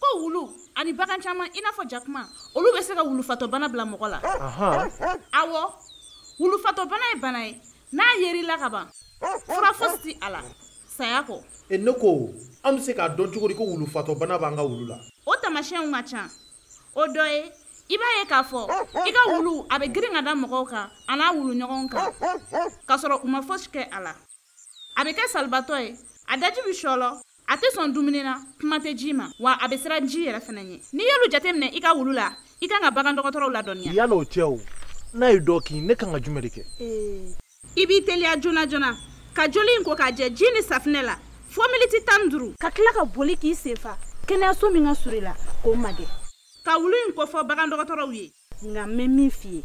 ko wulu ani bagan caman i n'a fɔ jakuma olu bɛ se ka wulufatɔbana bila mɔgɔ la awɔ wulufatɔbana ye bana ye n'a yer'i la ka ban fura fosi ti a la saya kɔ e ne ko an bɛ se k'a dɔn cogo di ko wulufatɔbana b'an ka wulu la o taamasiyɛnw ka ca o dɔ ye i b'a ye k'a fɔ i ka wulu a bɛ girin ka da mɔgɔw kan a n'a wuluɲɔgɔnw kan k'a sɔrɔ u ma fosi kɛ a la a bɛ kɛ salibaatɔ ye a daji bɛ sɔlɔ a tɛ sɔn dumuni na kuma tɛ ji ma wa a bɛ siran ji yɛrɛ fana ɲɛ n'i y'olu jateminɛ i ka wulu la i kan ka bagan dɔgɔtɔrɔw ladɔnniya yala o cɛ o n'a ye dɔ kin ne kan ka jumɛn de kɛ i b'i teliya joona joona ka joli in ko k'a jɛ ji ni safinɛ la fo miniti tan ni duuru ka tila ka boli k'i sen fa kɛnɛyaso min ka surun i la k'o magɛn ka wulu in kofɔ bagan dɔgɔtɔrɔw ye nka n bɛ min f'i ye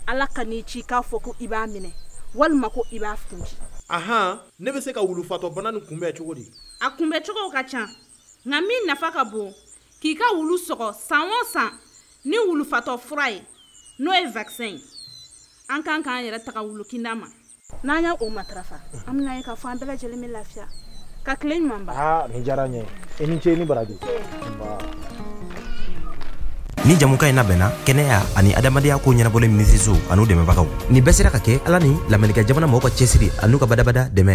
ala kan'i ci k'a fɔ ko i b'a minɛ walima ko i b'a kunci ahan ne bɛ se ka wulufatɔbana nin kunbɛn cogo di a kunbɛn cogow ka ca nka min nafa ka bon k'i ka wulu sɔgɔ san o san ni wulufatɔ fura ye n'o ye vaccin ye an kan k'an yɛrɛ tanga wulukinda ma n'an y'o matarafa an bɛn'a ye k'a fɔ an bɛɛ lajɛlen bɛ lafiya ka tile ɲuman ban aa nin diyara n ye i ni ce i ni baraji nin jɛmukan in labɛnna kɛnɛya ani adamadenyako ɲɛnabɔli minisiriso an'u dɛmɛbagaw nin bɛɛ sera ka kɛ ala ni lamɛrikɛn jamana mɔgɔw ka cɛsiri an'u ka badabada dɛmɛ